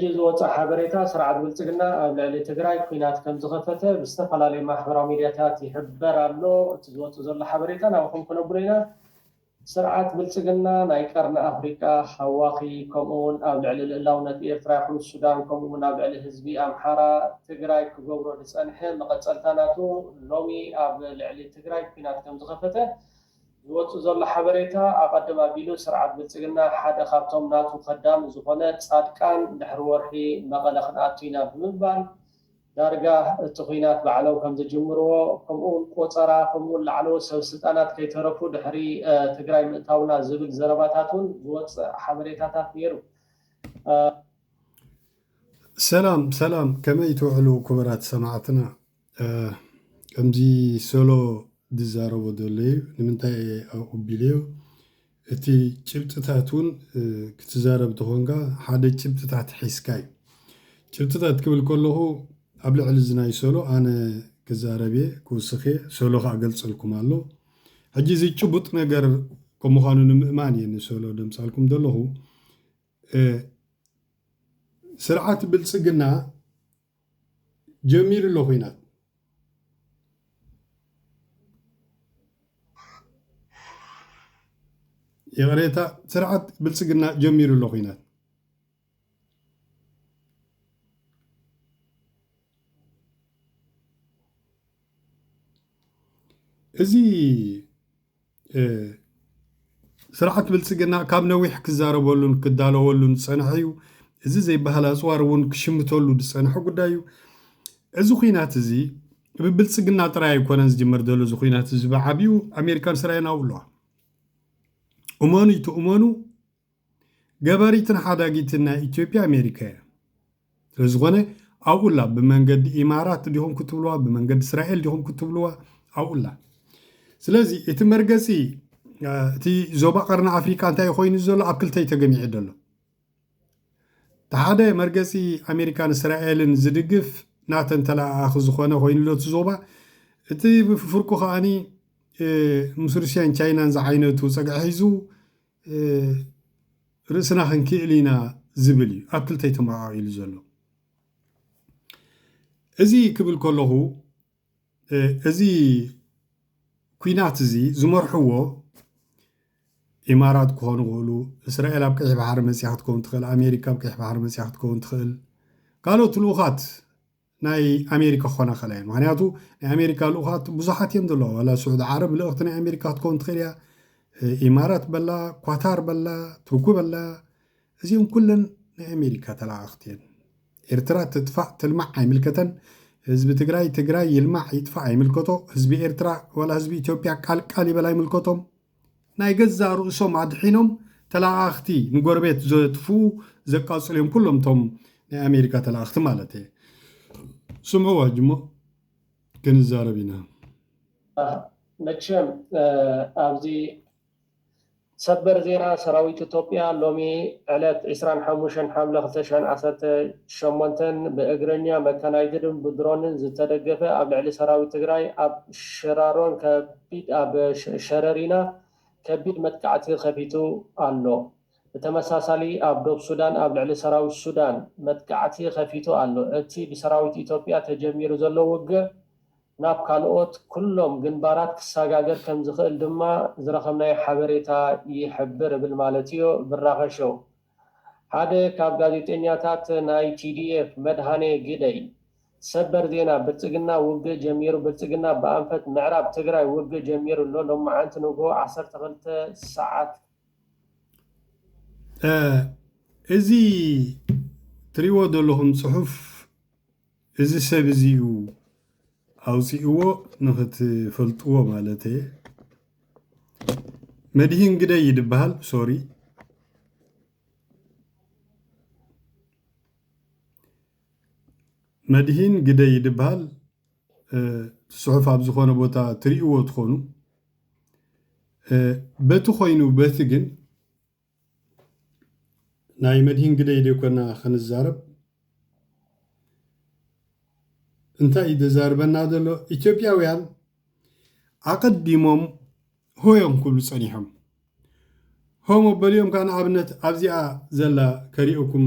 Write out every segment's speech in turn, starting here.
ሕጂ ዝወጸ ሓበሬታ ስርዓት ብልጽግና ኣብ ልዕሊ ትግራይ ኲናት ከም ዝኸፈተ ብዝተፈላለዩ ማሕበራዊ ሚድያታት ይሕበር ኣሎ። እቲ ዝወጽእ ዘሎ ሓበሬታ ናባኹም ክነብሎ ኢና። ስርዓት ብልጽግና ናይ ቀርኒ ኣፍሪቃ ሃዋኺ ከምኡ ውን ኣብ ልዕሊ ልእላውነት ኤርትራ ይኹን ሱዳን ከምኡ ውን ኣብ ልዕሊ ህዝቢ ኣምሓራ ትግራይ ክገብሮ ዝጸንሐ መቐጸልታ ናቱ ሎሚ ኣብ ልዕሊ ትግራይ ኲናት ከም ዝኸፈተ ዝወጽእ ዘሎ ሓበሬታ ኣቐድም ኣቢሉ ስርዓት ብልጽግና ሓደ ካብቶም ናቱ ከዳሚ ዝኾነ ጻድቃን ድሕሪ ወርሒ መቐለ ክንኣቱ ኢና ብምባል ዳርጋ እቲ ኹናት ባዕሎም ከምዝጅምርዎ ከምኡውን ቆጸራ ከምኡውን ላዕለዎት ሰበስልጣናት ከይተረፉ ድሕሪ ትግራይ ምእታውና ዝብል ዘረባታት እውን ዝወጽእ ሓበሬታታት ነይሩ። ሰላም ሰላም ከመይ ትውዕሉ ኩቡራት ሰማዕትና ከምዚ ሶሎ ዝዛረቦ ዘሎ እዩ ንምንታይ እየ ኣቕቢለዮ እቲ ጭብጥታት እውን ክትዛረብ ተኾንካ ሓደ ጭብጥታት ሒዝካ እዩ ጭብጥታት ክብል ከለኹ ኣብ ልዕሊ እዚ ናይ ሶሎ ኣነ ክዛረብ እየ ክውስኽ እየ ሶሎ ከዓ ገልፀልኩም ኣሎ ሕጂ እዚ ጭቡጥ ነገር ከም ምዃኑ ንምእማን እየ ንሶሎ ደምፃልኩም ዘለኹ ስርዓት ብልፅግና ጀሚሩ ኣሎ ኹናት። ይቕሬታ ስርዓት ብልፅግና ጀሚሩ ኣሎ ኹናት። እዚ ስርዓት ብልፅግና ካብ ነዊሕ ክዛረበሉን ክዳለወሉን ዝፀንሐ እዩ። እዚ ዘይበሃል ኣፅዋር እውን ክሽምተሉ ዝፀንሐ ጉዳይ እዩ። እዚ ኩናት እዚ ብብልፅግና ጥራይ ኣይኮነን ዝጅመር ዘሎ እዚ ኩናት እዚ ብዓብዩ ኣሜሪካን እስራኤልን ኣብኡ ኣለዋ። እመኑ ይትእመኑ ገባሪትን ሓዳጊትን ናይ ኢትዮጵያ ኣሜሪካ እያ። ስለዝኾነ ኣብኡላ ብመንገዲ ኢማራት ዲኹም ክትብልዋ ብመንገዲ እስራኤል ዲኹም ክትብልዋ ኣብኡላ። ስለዚ እቲ መርገፂ እቲ ዞባ ቀርኒ ኣፍሪካ እንታይ ኮይኑ ዘሎ ኣብ ክልተይ ተገሚዑ ዘሎ ተሓደ መርገፂ ኣሜሪካን እስራኤልን ዝድግፍ ናተን ተለኣኣኺ ዝኾነ ኮይኑ ዶ ዞባ እቲ ፍርቁ ከዓኒ ምስ ሩስያን ቻይናን ዝዓይነቱ ፀግዒ ሒዙ ርእስና ክንክእል ኢና ዝብል እዩ ኣብ ክልተ ተመዓዒሉ ዘሎ። እዚ ክብል ከለኹ እዚ ኩናት እዚ ዝመርሕዎ ኢማራት ክኾኑ ይኽእሉ፣ እስራኤል ኣብ ቀይሕ ባሕሪ መፅያ ክትከውን ትኽእል፣ ኣሜሪካ ኣብ ቀይሕ ባሕሪ መፅያ ክትከውን ትኽእል፣ ካልኦት ልኡኻት ናይ ኣሜሪካ ክኾና ይኽእላ እየን ምኽንያቱ ናይ ኣሜሪካ ልኡኻት ብዙሓት እዮም ዘለዋ ዋላ ስዑዲ ዓረብ ልእኽቲ ናይ ኣሜሪካ ክትከውን ትኽእል እያ ኢማራት በላ ኳታር በላ ቱርኩ በላ እዚኦም ኩለን ናይ ኣሜሪካ ተለኣኽቲ እየን ኤርትራ ትጥፋእ ትልማዕ ኣይምልከተን ህዝቢ ትግራይ ትግራይ ይልማዕ ይጥፋእ ኣይምልከቶ ህዝቢ ኤርትራ ዋላ ህዝቢ ኢትዮጵያ ቃልቃል ይበል ኣይምልከቶም ናይ ገዛእ ርእሶም ኣድሒኖም ተላኣኣኽቲ ንጎረቤት ዘጥፍኡ ዘቃጽሉ እዮም ኩሎም እቶም ናይ ኣሜሪካ ተላኣኽቲ ማለት እየ ስምዑ ኣዋጅ እሞ ክንዛረብ ኢና። መቸም ኣብዚ ሰበር ዜና ሰራዊት ኢትዮጵያ ሎሚ ዕለት ዕስራን ሓሙሽተን ሓምለ ክልተ ሽሕን ዓሰርተ ሸሞንተን ብእግረኛ፣ መካናይዝድን ብድሮንን ዝተደገፈ ኣብ ልዕሊ ሰራዊት ትግራይ ኣብ ሽራሮን ከቢድ ኣብ ሸረሪና ከቢድ መጥቃዕቲ ከፊቱ ኣሎ። ብተመሳሳሊ ኣብ ዶብ ሱዳን ኣብ ልዕሊ ሰራዊት ሱዳን መጥቃዕቲ ከፊቱ ኣሎ። እቲ ብሰራዊት ኢትዮጵያ ተጀሚሩ ዘሎ ውግእ ናብ ካልኦት ኩሎም ግንባራት ክሰጋገር ከምዝኽእል ድማ ዝረኸብናዮ ሓበሬታ ይሕብር እብል ማለትዮ ብራኸ ሾው። ሓደ ካብ ጋዜጠኛታት ናይ TDF መድሃኔ ግደይ ሰበር ዜና ብልፅግና ውግእ ጀሚሩ ብልፅግና ብኣንፈት ምዕራብ ትግራይ ውግእ ጀሚሩ ኣሎ ሎማዓንቲ ንጉሆ ዓሰርተ ክልተ ሰዓት እዚ ትሪእዎ ዘለኹም ፅሑፍ። እዚ ሰብ እዚ እዩ ኣውጺእዎ ንክትፈልጥዎ ማለተየ መድሂን ግደይ እዩ ድበሃል ሶሪ መድሂን ግደይ እዩ ድበሃል ጽሑፍ ኣብ ዝኾነ ቦታ ትርእይዎ ትኾኑ በቲ ኮይኑ በቲ ግን ናይ መድሂን ግደይ ዶ ኮና ክንዛረብ እንታይ እዩ ዘዛርበና ዘሎ ኢትዮጵያውያን ኣቐዲሞም ሆ እዮም ክብሉ ጸኒሖም ሆ መበሊኦም ከዓ ንኣብነት ኣብዚኣ ዘላ ከሪኦኩም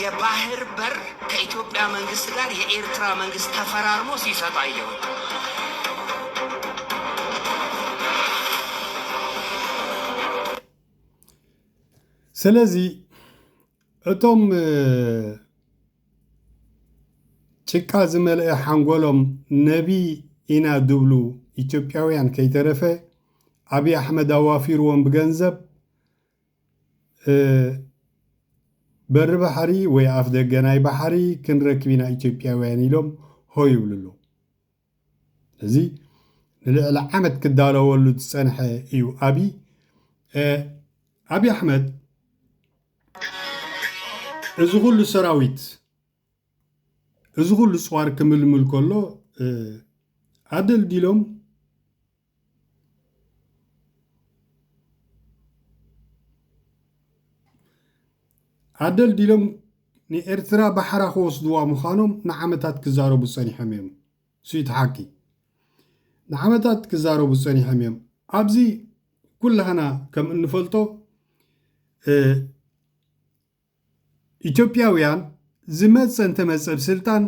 የባህር በር ከኢትዮጵያ መንግስት ጋር የኤርትራ መንግስት ተፈራርሞ ሲሰጥ አየሁኝ። ስለዚ እቶም ጭቃ ዝመልአ ሓንጎሎም ነቢ ኢና ድብሉ ኢትዮጵያውያን ከይተረፈ ኣብይ ኣሕመድ ኣዋፊርዎም ብገንዘብ በሪ ባሕሪ ወይ ኣፍ ደገ ናይ ባሕሪ ክንረክብ ኢና ኢትዮጵያውያን ኢሎም ሆ ይብሉ ኣለዉ እዚ ንልዕሊ ዓመት ክዳለወሉ ዝፀንሐ እዩ ኣቢ ኣቢ ኣሕመድ እዚ ኩሉ ሰራዊት እዚ ኩሉ ፅዋር ክምልምል ከሎ ኣደልዲሎም ኣደልዲሎም ንኤርትራ ባሕራ ክወስድዋ ምዃኖም ንዓመታት ክዛረቡ ጸኒሖም እዮም። ስዩቲ ሓቂ ንዓመታት ክዛረቡ ጸኒሖም እዮም። ኣብዚ ኩላህና ከም እንፈልጦ ኢትዮጵያውያን ዝመጸ እንተመጸ ብ ስልጣን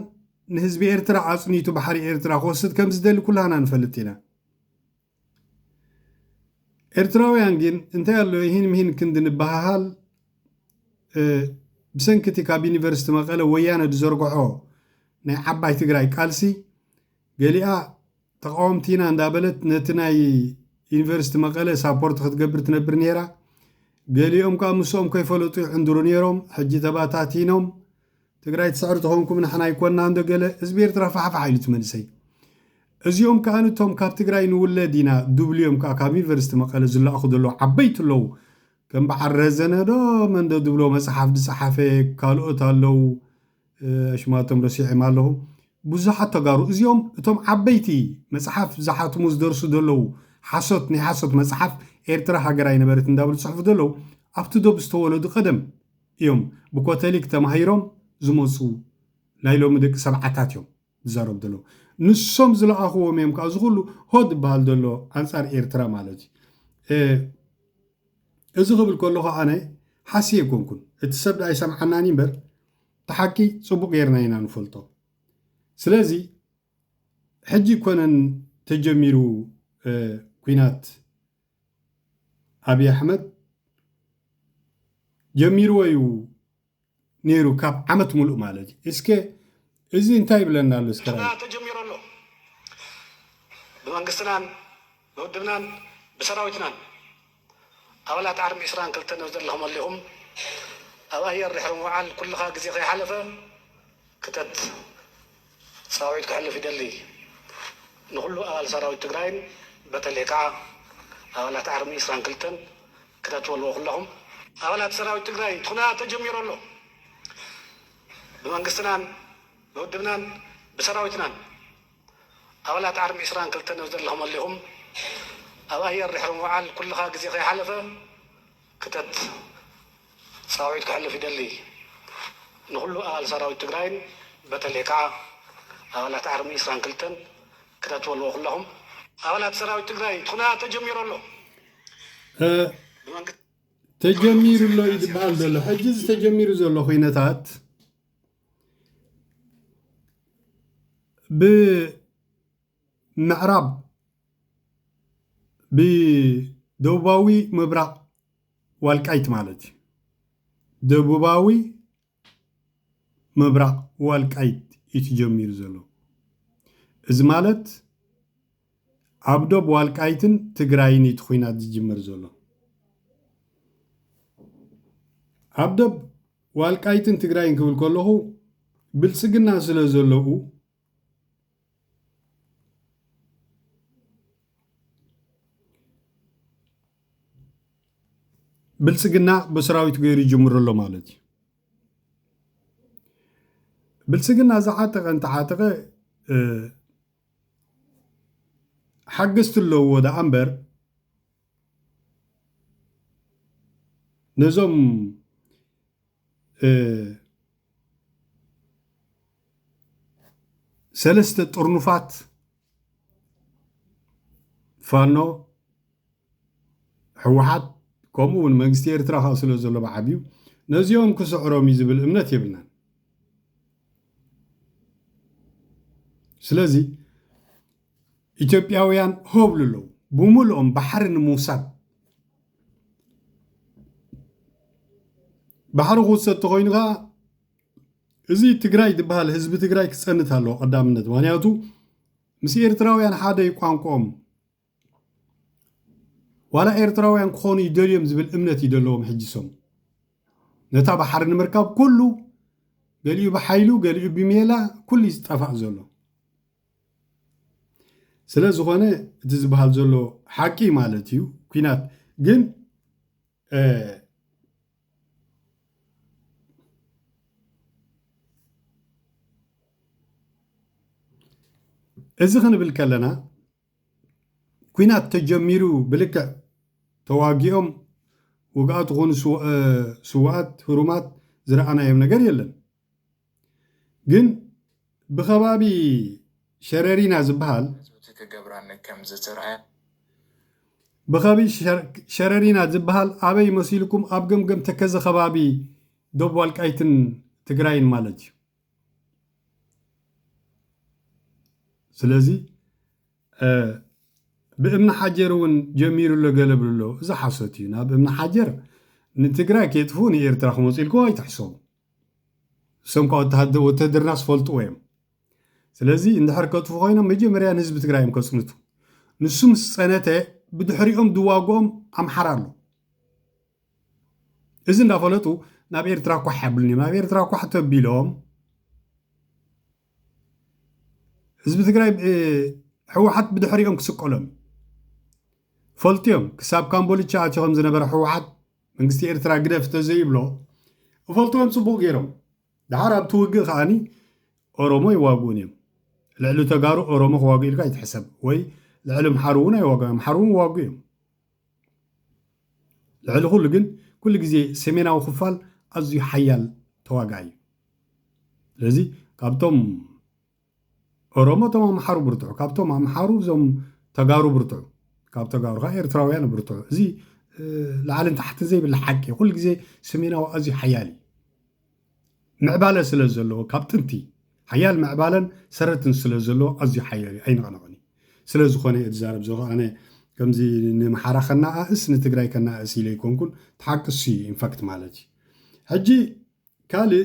ንህዝቢ ኤርትራ ኣጽኒቱ ባሕሪ ኤርትራ ክወስድ ከም ዝደሊ ኩላህና ንፈልጥ ኢና ኤርትራውያን ግን እንታይ ኣሎ ኢሂን ምሂን ክንዲ ንባሃሃል ብሰንኪ እቲ ካብ ዩኒቨርስቲ መቐለ ወያነ ዝዘርግሖ ናይ ዓባይ ትግራይ ቃልሲ ገሊኣ ተቃወምቲ ኢና እንዳበለት ነቲ ናይ ዩኒቨርሲቲ መቀለ ሳፖርት ክትገብር ትነብር ነይራ ገሊኦም ከኣ ምሶኦም ከይፈለጡ ይዕንድሩ ነይሮም ሕጂ ተባታቲኖም ትግራይ ትስዕር ተኾንኩም ንሕና ኣይኮናን ዶ ገለ ህዝቢ ኤርትራ ፋሕፋሕ ኢሉ እቲ መንእሰይ እዚኦም ከኣ ንቶም ካብ ትግራይ ንውለድ ኢና ድብልዮም ከኣ ካብ ዩኒቨርሲቲ መቀለ ዝላኣኹ ዘለዉ ዓበይቲ ኣለዉ ከም በዓል ረዘነ ዶ መንዶ ድብሎ መጽሓፍ ዝጸሓፈ ካልኦት ኣለዉ ኣሽማቶም ረሲዔም ኣለኹ ቡዙሓት ተጋሩ እዚኦም እቶም ዓበይቲ መጽሓፍ ዝሓትሙ ዝደርሱ ደለዉ ሓሶት ናይ ሓሶት መጽሓፍ ኤርትራ ሃገር ኣይነበረትን እንዳበሉ ዝጽሕፉ ደለዉ ኣብቲ ዶብ ዝተወለዱ ቀደም እዮም ብኮተሊክ ተማሂሮም ዝመጹ ናይ ሎሚ ደቂ ሰብዓታት እዮም። ዝዛረቡ ዘለዉ ንሶም ዝለኣኽዎም እዮም ከዓ እዚ ኩሉ ሆ ዝበሃል ዘሎ ኣንፃር ኤርትራ ማለት እዩ እዚ ክብል ከለኹ ኣነ ሓስየ ኣይኮንኩን እቲ ሰብ ዳኣ ይሰምዓናኒ እምበር ተሓቂ ፅቡቅ ጌርና ኢና ንፈልጦ ስለዚ ሕጂ ኮነን ተጀሚሩ ኩናት ኣብዪ ኣሕመድ ጀሚርዎ እዩ ነይሩ ካብ ዓመት ሙሉእ ማለት እዩ እስከ እዚ እንታይ ይብለና ኣሎ እስከ ራይ ተጀሚሩ ኣሎ ብመንግስትናን ብውድብናን ብሰራዊትናን ኣባላት ዓርሚ ዕስራን ክልተን ኣብዚ ዘለኹም ኣሊኹም ኣብ ኣየር ድሕሪ ምውዓል ኩልኻ ግዜ ከይሓለፈ ክተት ሰራዊት ክሕልፍ ይደሊ ንኩሉ ኣባል ሰራዊት ትግራይን በተለይ ካዓ ኣባላት ኣርሚ ዕስራን ክልተን ክተትበልዎ ኩለኩም። ኣባላት ሰራዊት ትግራይ እቲ ኩነታት ተጀሚሩ ኣሎ ብመንግስትናን ብውድብናን ብሰራዊትናን ኣባላት ኣርሚ ዕስራን ክልተን ኣብዘለክመሉ ኢኩም ኣብ ኣየር ድሕሪ ምውዓል ኩልካ ግዜ ከይሓለፈ ክተት ሰራዊት ክሕልፍ ይደሊ ንኩሉ ኣባል ሰራዊት ትግራይን በተለይ ካዓ ኣባላት ኣርሚ ዕስራን ክልተን ክተት በልዎ ኩለኩም። ኣባላት ሰራዊት ትግራይ እቲ ኩነታት ተጀሚሩ ኣሎ ብመንግስቲ ተጀሚሩ ኣሎ እዩ ዝበሃል ዘሎ ሕጂ እዚ ተጀሚሩ ዘሎ ኩነታት ብመንግስቲ ምዕራብ ብደቡባዊ ምብራቕ ዋልቃይት ማለት እዩ። ደቡባዊ ምብራቕ ዋልቃይት እዩ ተጀሚሩ ዘሎ። እዚ ማለት ኣብ ዶብ ዋልቃይትን ትግራይን እዩ ኩናት ዝጅምር ዘሎ። ኣብ ዶብ ዋልቃይትን ትግራይን ክብል ከለኹ ብልፅግና ስለ ዘለዉ ብልፅግና ብሰራዊት ገይሩ ይጅምሮ ኣሎ ማለት እዩ ብልፅግና ዝዓጠቐ እንተዓጠቐ ሓገዝቲ ኣለዎ ደኣ እምበር ነዞም ሰለስተ ጥርኑፋት ፋኖ ሕወሓት ከምኡ እውን መንግስቲ ኤርትራ ካብ ስለ ዘሎ ብዓብዩ ነዚኦም ክስዕሮም እዩ ዝብል እምነት የብልናን ስለዚ ኢትዮጵያውያን ሆብሉ ኣለዉ ብምልኦም ባሕሪ ንምውሳድ ባሕሪ ክውሰድ ተኮይኑ ከዓ እዚ ትግራይ ዝበሃል ህዝቢ ትግራይ ክፀንት ኣለዎ ቀዳምነት ምክንያቱ ምስ ኤርትራውያን ሓደ እዩ ቋንቋኦም ዋላ ኤርትራውያን ክኾኑ ይደልዮም ዝብል እምነት እዩ ዘለዎም ሕጂ ሰም ነታ ባሕሪ ንምርካብ ኩሉ ገሊኡ ብሓይሉ ገሊኡ ብሜላ ኩሉ እዩ ዝጠፋእ ዘሎ ስለዝኾነ እቲ ዝበሃል ዘሎ ሓቂ ማለት እዩ ኩናት ግን እዚ ክንብል ከለና ኩናት ተጀሚሩ ብልክዕ ተዋጊኦም ውግኣት ዝኾኑ ስዋኣት ህሩማት ዝረኣናዮም ነገር የለን። ግን ብኸባቢ ሸረሪና ዝበሃል ህዝብቲ ክገብራኒ ከም ዝተርኣያ። ብኸቢ ሸረሪና ዝበሃል ኣበይ መሲልኩም ኣብ ገምገም ተከዘ ከባቢ ዶብ ዋልቃይትን ትግራይን ማለት እዩ ስለዚ ብእምኒ ሓጀር እውን ጀሚሩ ኣሎ ገለ ብሉ ኣሎ እዚ ሓሶት እዩ ናብ እምኒ ሓጀር ንትግራይ ከየጥፍኡ ንኤርትራ ክመፁ ኢልኩም ኣይትሕሰቡ እሶም እኳ ወተሃደርና ዝፈልጥዎ እዮም። ስለዚ እንድሕር ከጥፉ ኮይኖም መጀመርያ ንህዝቢ ትግራይ እዮም ከፅንቱ። ንሱ ምስ ፀነተ ብድሕሪኦም ዝዋግኦም ኣምሓራ ኣሎ። እዚ እንዳፈለጡ ናብ ኤርትራ ኳሕ ያብሉን እዮም። ናብ ኤርትራ ኳሕ ተቢሎም ህዝቢ ትግራይ ህወሓት ብድሕሪኦም ክስቀሎም ፈልጥዮም ክሳብ ካምቦልቻ ኣትዮ ከም ዝነበረ ህወሓት መንግስቲ ኤርትራ ግደፍ ተዘይብሎ እፈልጥዎም ጽቡቕ ገይሮም ድሓር ኣብቲ ውግእ ከዓኒ ኦሮሞ ይዋግኡን እዮም ልዕሊ ተጋሩ ኦሮሞ ክዋግኡ ኢልካ ይትሕሰብ ወይ ልዕሊ ምሓሩ እውን ኣይዋግኡ ምሓሩ እውን ይዋግኡ እዮም ልዕሊ ኩሉ ግን ኩሉ ግዜ ሰሜናዊ ክፋል ኣዝዩ ሓያል ተዋጋኢ እዩ ስለዚ ካብቶም ኦሮሞ እቶም ኣምሓሩ ብርትዑ ካብቶም ኣምሓሩ እዞም ተጋሩ ብርትዑ ካብ ተጋሩ ከዓ ኤርትራውያን ብርትዑ እዚ ላዕልን ታሕትን ዘይብላ ሓቂ ኩሉ ግዜ ሰሜናዊ ኣዝዩ ሓያል እዩ ምዕባለ ስለ ዘለዎ ካብ ጥንቲ ሓያል ምዕባለን ሰረትን ስለ ዘለዎ ኣዝዩ ሓያል እዩ ኣይንቐነቐን እዩ ስለ ዝኾነ እየ ዝዛረብ ዘለኹ ኣነ ከምዚ ንምሓራ ከነኣእስ ንትግራይ ከነኣእስ ኢለ ኣይኮንኩን ተሓቅሱ እዩ ኢንፋክት ማለት እዩ ሕጂ ካልእ፣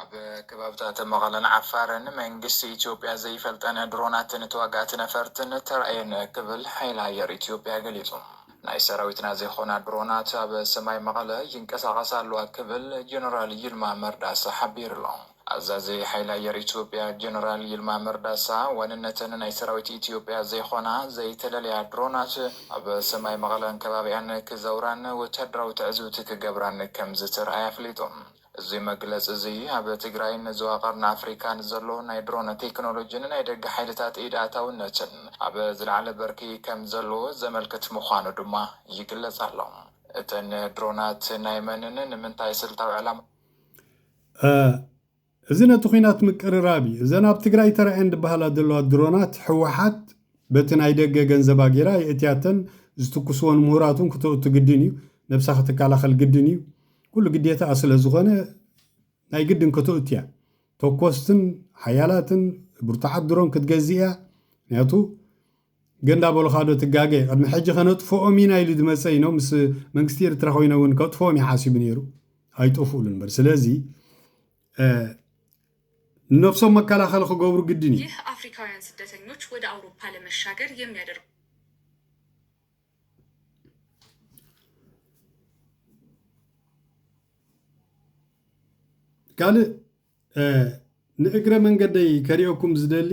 ኣብ ከባብታት መቐለን ዓፋርን መንግስቲ ኢትዮጵያ ዘይፈልጠን ድሮናት ንተዋጋእቲ ነፈርትን ተራእየን ክብል ሓይሊ ኣየር ኢትዮጵያ ገሊጹ። ናይ ሰራዊትና ዘይኮና ድሮናት ኣብ ሰማይ መቐለ ይንቀሳቐሳ ኣለዋ ክብል ጀነራል ይልማ መርዳሳ ሓቢሩ'ሎ። ኣዛዚ ሓይሊ ኣየር ኢትዮጵያ ጀነራል ይልማ መርዳሳ ዋንነተን ናይ ሰራዊት ኢትዮጵያ ዘይኮና ዘይተለለያ ድሮናት፣ ኣብ ሰማይ መቐለን ከባቢኣን ክዘውራን ወታደራዊ ትዕዝብቲ ክገብራን ከምዝተርኣየ ኣፍሊጡ። እዚ መግለፂ እዚ ኣብ ትግራይን ዞባ ቀርኒ ኣፍሪካን ዘሎ ናይ ድሮን ቴክኖሎጂ ንናይ ደገ ሓይልታት ኢድ ኣእታውነትን ኣብ ዝለዓለ ብርኪ ከምዘለዎ ዘመልክት ምዃኑ ድማ ይግለፅ ኣሎ። እተን ድሮናት ናይ መንን ንምንታይ ስልታዊ ዕላማ? እዚ ነቲ ኹናት ምቅርራብ እዩ። እዘን ኣብ ትግራይ ተራእየን ድበሃላ ዘለዋ ድሮናት ህወሓት በቲ ናይ ደገ ገንዘባ ገይራ የእትያተን ዝትኩስወን ምሁራት እውን ክተእቱ ግድን እዩ። ነብሳ ክትከላኸል ግድን እዩ። ኩሉ ግዴታኣ ስለዝኾነ ናይ ግድን ከተእቱ እያ። ተኮስትን ሓያላትን ብርቱዓት ድሮን ክትገዝእ እያ። ምክንያቱ ግን እንዳበሉኻ ዶ ትጋገ ቅድሚ ሕጂ ከነጥፍኦም ኢና ኢሉ ዝመጸ እይኖ ምስ መንግስቲ ኤርትራ ኮይነ እውን ከጥፍኦም እዩ ሓሲቡ ነይሩ ኣይጠፍኡሉን በር ስለዚ ንነብሶም መከላኸሊ ክገብሩ ግድን እዩ ይህ አፍሪካውያን ስደተኞች ወደ አውሮፓ ለመሻገር የሚያደርጉ ካልእ ንእግረ መንገደይ ከሪኦኩም ዝደሊ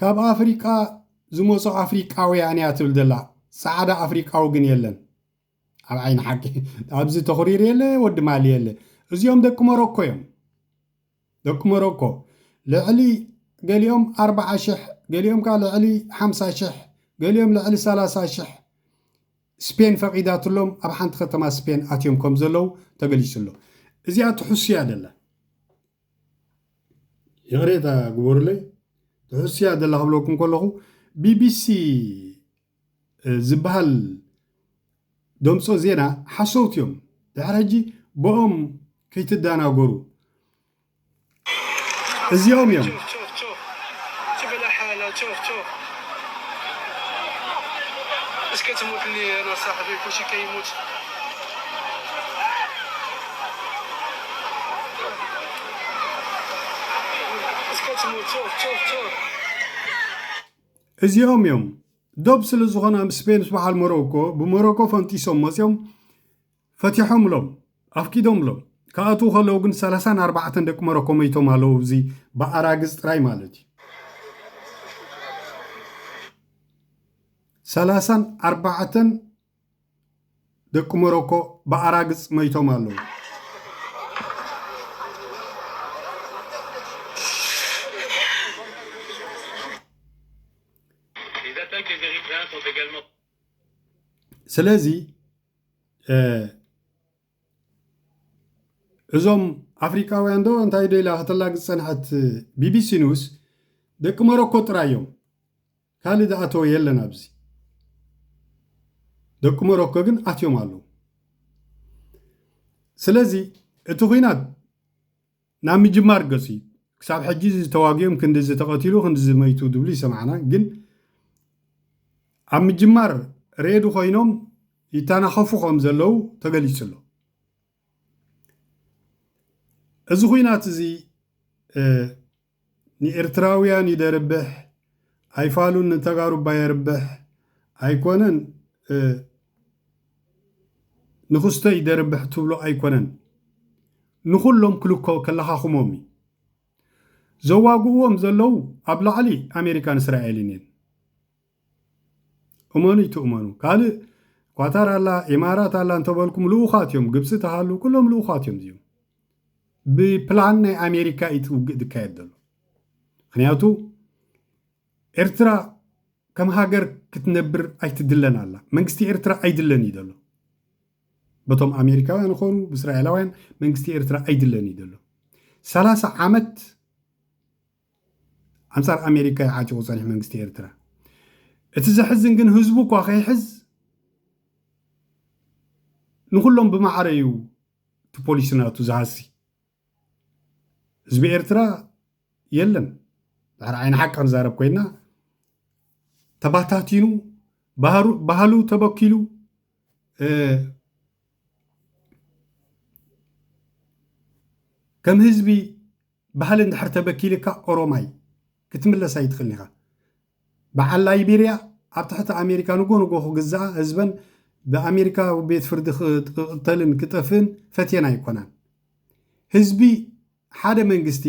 ካብ ኣፍሪቃ ዝመጹ ኣፍሪቃውያን እያ ትብል ዘላ ጻዕዳ ኣፍሪቃዊ ግን የለን ኣብ ዓይኒ ሓቂ ኣብዚ ተኹሪር የለ ወዲ ማሊ የለ እዚኦም ደቂ ሞሮኮ እዮም ደቂ ሞሮኮ ልዕሊ ገሊኦም ኣርባዓ ሽሕ ገሊኦም ከዓ ልዕሊ ሓምሳ ሽሕ ገሊኦም ልዕሊ ሰላሳ ሽሕ ስፔን ፈቒዳትሎም ኣብ ሓንቲ ከተማ ስፔን ኣትዮም ከም ዘለዉ ተገሊጹ ኣሎ እዚኣ ትሕሱ እያ ደላ ይቕሬታ ግበሩለይ ትሑስያ ዘላ ክብለኩም ከለኹ ቢቢሲ ዝበሃል ደምፆ ዜና ሓሰውት እዮም ድሕሪ ሕጂ ብኦም ከይትደናገሩ እዚኦም እዮም እስከ ትሙትኒ ሳሕቢ ኩሽከ ይሙት እዚኦም እዮም ዶብ ስለ ዝኾነ ኣብ ስፔን ምስ በዓል ሞሮኮ ብሞሮኮ ፈንጢሶም መፂኦም ፈቲሖምሎም ኣፍቂዶምሎም ክኣትዉ ከለዉ ግን ሰላሳን ኣርባዕተን ደቂ ሞሮኮ መይቶም ኣለዉ እዚ ብኣራግዝ ጥራይ ማለት እዩ ሰላሳን ኣርባዕተን ደቂ ሞሮኮ ብኣራግጽ መይቶም ኣለዉ። ስለዚ እዞም ኣፍሪቃውያን ዶ እንታይ ዶ ኢላ ከተላግጽ ዝጸንሐት ቢቢሲ ኒውስ ደቂ ሞሮኮ ጥራይ እዮም ካልእ ዝኣተወ የለን ኣብዚ ደቂ ሞሮኮ ግን ኣትዮም ኣለዉ ስለዚ እቲ ኩናት ናብ ምጅማር ገጹ እዩ ክሳብ ሕጂ እዚ ተዋጊኦም ክንዲ ዝተቐትሉ ክንዲ ዝመይቱ ዝብሉ ይሰማዕና ግን ኣብ ምጅማር ሬዲ ኮይኖም ይተናኸፉ ከም ዘለዉ ተገሊጹ ኣሎ እዚ ኩናት እዚ ንኤርትራውያን ይደርብሕ ኣይፋሉን ንተጋሩ እባ የርብሕ ኣይኮነን ንክስቶ ይደርብሕ ትብሎ ኣይኮነን ንኩሎም ክልኮ ከለካክሞም እዩ ዘዋግእዎም ዘለው ኣብ ላዕሊ ኣሜሪካን እስራኤልን እየን እመኑ ኣይትእመኑ ካልእ ኳታር ኣላ ኢማራት ኣላ እንተበልኩም ልኡኻት እዮም ግብፂ ተሃሉ ኩሎም ልኡኻት እዮም እዚኦም ብፕላን ናይ ኣሜሪካ እዩ እቲ ውግእ ዝካየድ ዘሎ ምክንያቱ ኤርትራ ከም ሃገር ክትነብር ኣይትድለን ኣላ መንግስቲ ኤርትራ ኣይድለን እዩ ዘሎ በቶም ኣሜሪካውያን ይኾኑ ብእስራኤላውያን መንግስቲ ኤርትራ ኣይድለን እዩ ዘሎ ሰላሳ ዓመት ኣንጻር ኣሜሪካ ዩ ዓጢቑ ጸኒሑ መንግስቲ ኤርትራ። እቲ ዘሕዝን ግን ህዝቡ እኳ ከይሕዝ ንኹሎም ብማዕረ ዩ እቲ ፖሊሲ ናቱ ዝሃሲ። ህዝቢ ኤርትራ የለን ድሕሪ ዓይኒ ሓቂ ክንዛረብ ኮይና ተባታቲኑ ባህሉ ተበኪሉ ከም ህዝቢ ባህሊ እንድሕር ተበኪልካ ኦሮማይ ክትምለስ ኣይትኽልን ኢኻ። በዓል ላይቤርያ ኣብ ትሕቲ ኣሜሪካ ንጎ ንጎ ክግዝኣ ህዝበን ብኣሜሪካ ቤት ፍርዲ ክቕተልን ክጠፍእን ፈትየን ኣይኮናን። ህዝቢ ሓደ መንግስቲ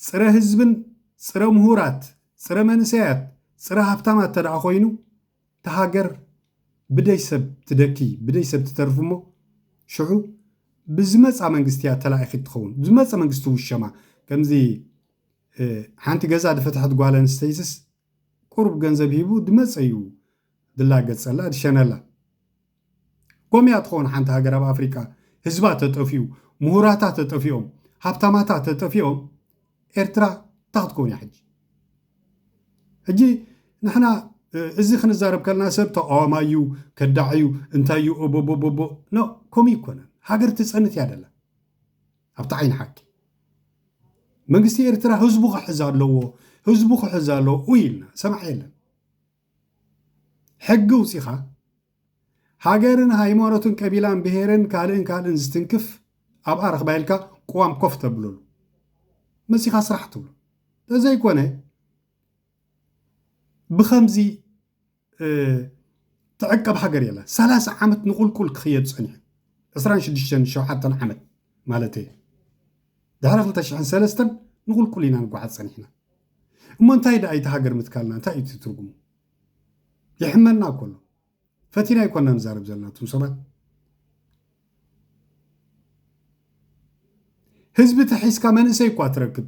ጽረ ህዝብን ጽረ ምሁራት ጽረ መንእሰያት ጽረ ሃብታማት ተደኣ ኮይኑ እታ ሃገር ብደይ ሰብ ትደኪ ብደይ ሰብ ትተርፍ እሞ ሽዑ ብዝመፃ መንግስቲ እያ ተላኢኺት ትኸውን ብዝመፀ መንግስቲ ውሸማ ከምዚ ሓንቲ ገዛ ድፈትሐት ጓል ኣንስተይትስ ቁሩብ ገንዘብ ሂቡ ድመፀ እዩ ድላገፀላ ድሸነላ ኮምያ ትኾን ሓንቲ ሃገር ኣብ ኣፍሪቃ ህዝባ ተጠፊኡ ሙሁራታ ተጠፊኦም ሃብታማታ ተጠፊኦም ኤርትራ እታ ክትኮን እያ ሕጂ ሕጂ ንሕና እዚ ክንዛረብ ከለና ሰብ ተቃዋማይ እዩ ከዳዕ እዩ እንታይ እዩ ኦቦቦቦቦ ኖ ከምኡ ይኮነን ሃገር ትፀንት እያ ደላ ኣብቲ ዓይኒ ሓቂ መንግስቲ ኤርትራ ህዝቡ ክሕዝ ኣለዎ ህዝቡ ክሕዝ ኣለዎ ኢልና ሰማዕ የለን ሕጊ ኣውጺኻ ሃገርን ሃይማኖትን ቀቢላን ብሄርን ካልእን ካልእን ዝትንክፍ ኣብኣ ረኽባ ኢልካ ቅዋም ኮፍ ተብለሉ መጺኻ ስራሕ ትብሎ ተዘይኮነ ብከምዚ ትዕቀብ ሃገር የላ ሰላሳ ዓመት ንቁልቁል ክኽየድ ፀኒሑ ዕስራን ሽዱሽተን ሸውዓተን ዓመት ማለት እየ ድሕሪ ክልተ ሽሕን ሰለስተን ንቑልቁል ኢና ንጓዓዝ ጸኒሕና። እሞ እንታይ ደኣ ኢታ ሃገር ምትካልና እንታይ እዩ እቲ ትርጉሙ? የሕመና እኮ ኣሎ። ፈቲና ኣይኮና ንዛረብ ዘለና እቱም ሰባት። ህዝቢ ተሒዝካ መንእሰይ እኳ ትረክብ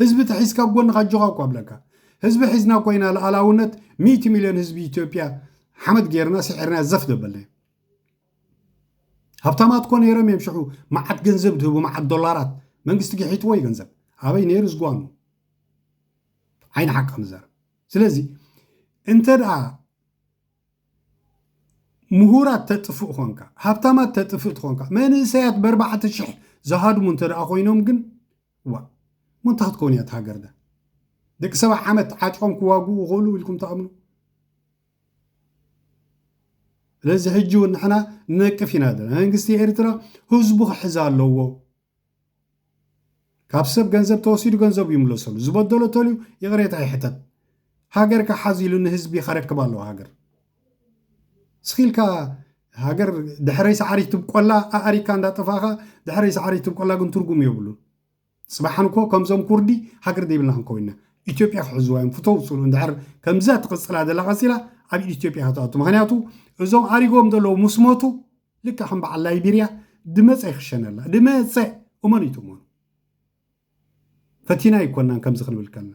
ህዝቢ ተሒዝካ ኣብ ጎንኻ ኣጆኻ እኳ ብለካ ህዝቢ ሒዝና እኳ ኢና ልኣላውነት ሚእቲ ሚልዮን ህዝቢ ኢትዮጵያ ሓመድ ገይርና ስዒርና ዘፍ ደበልና ሃብታማት እኮ ነይሮም እዮም ሽዑ መዓት ገንዘብ ዝህቡ መዓት ዶላራት መንግስቲ ግሒትዎ እዩ ገንዘብ ኣበይ ነይሩ ዝጓኑ ዓይኒ ሓቂ ምዛረብ ስለዚ እንተ ደኣ ምሁራት ተጥፍእ ኮንካ ሃብታማት ተጥፍእ ትኾንካ መንእሰያት በርባዕተ ሽሕ ዝሃድሙ እንተ ደኣ ኮይኖም ግን ዋ እሞ እንታይ ክትከውን እያ እቲ ሃገር ዳ ደቂ ሰባ ዓመት ዓጢቆም ክዋግኡ ይኽእሉ ኢልኩም ትኣምኑ ስለዚ ሕጂ እውን ንሕና ንነቅፍ ኢና ዘለና መንግስቲ ኤርትራ ህዝቡ ክሕዝ ኣለዎ ካብ ሰብ ገንዘብ ተወሲዱ ገንዘቡ ይምለሰሉ ዝበደሎ ተልዩ ይቕሬታ ይሕተት ሃገር ክሓዝ ኢሉ ንህዝቢ ከረክብ ኣለዎ ሃገር ስኺልካ ሃገር ድሕረይ ሰዓሪ ትብቆላ ኣእሪካ እንዳጠፋኻ ድሕረይ ሰዓሪ ትብቆላ ግን ትርጉም የብሉን ጽባሕ እንኮ ከምዞም ኩርዲ ሃገር ዘይብልና ክንከውን ኢና ኢትዮጵያ ክሕዝዋ እዮም ፍተው ጽሉ እንድሕር ከምዛ ትቕጽላ ዘላ ቀጺላ ኣብ ኢድ ኢትዮጵያ ክትኣቱ ምክንያቱ እዞም ኣሪጎም ዘለዉ ምስ ሞቱ ልክዕ ከም በዓል ላይቤርያ ድመፀ ይክሸነላ ድመፀ እመኑ ይትእመኑ ፈቲና ኣይኮናን ከምዚ ክንብል ከልና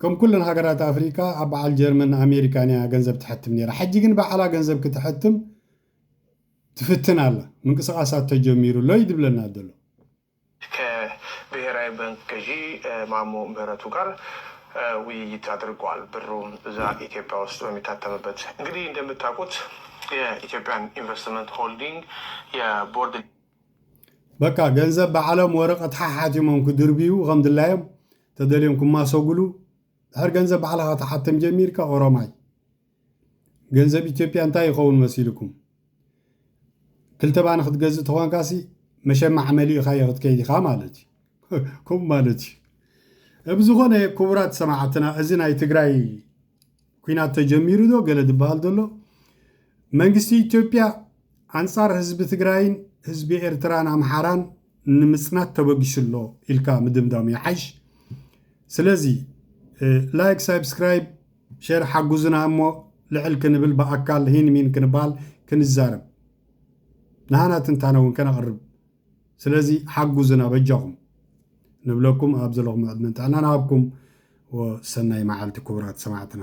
ከም ኩለን ሃገራት ኣፍሪቃ ኣብ በዓል ጀርመን ኣሜሪካን እያ ገንዘብ ትሐትም ነይራ። ሕጂ ግን ባዕላ ገንዘብ ክተሐትም ትፍትን ኣላ። ምንቅስቓሳት ተጀሚሩ ኣሎ እዩ ዝብለና ዘሎ። ከ ብሄራዊ ባንክ ገዢ ማሞ ምህረቱ ጋር ውይይት ኣድርገዋል። ብሩ እዛ ኢትዮጵያ ውስጥ በሚታተምበት እንግዲህ እንደምታውቁት የኢትዮጵያን ኢንቨስትመንት ሆልዲንግ የቦርድ። በቃ ገንዘብ ባዕሎም ወረቀት ሓሓቲሞም ክድርብዩ ከም ድላዮም ተደልዮም ክማሰጉሉ ድሕር ገንዘብ ባዕልኻ ትሓትም ጀሚርካ ኦሮማይ ገንዘብ ኢትዮጵያ እንታይ ይኸውን መሲልኩም ክልተ ባኒ ክትገዝእ ተኾንካሲ መሸማዕ መሊእኻዮ ክትከይድ ኢኻ ማለት እዩ ከምኡ ማለት እዩ ብዝኾነ ክቡራት ሰማዕትና እዚ ናይ ትግራይ ኲናት ተጀሚሩ ዶ ገለ ዝበሃል ዘሎ መንግስቲ ኢትዮጵያ ኣንጻር ህዝቢ ትግራይን ህዝቢ ኤርትራን ኣምሓራን ንምጽናት ተበጊሱ ኣሎ ኢልካ ምድምዳም ይሓይሽ ስለዚ ላይክ ሳብስክራይብ ሸር ሓጉዙና እሞ ልዕል ክንብል ብኣካል ሂን ሚን ክንበሃል ክንዛረብ ንሃና ትንታነ እውን ከነቕርብ ስለዚ ሓጉዙና በጃኹም ንብለኩም ኣብ ዘለኹሞ ዕድመን ጥዕናን ኣሃብኩም ወሰናይ መዓልቲ ኩቡራት ሰማዕትና።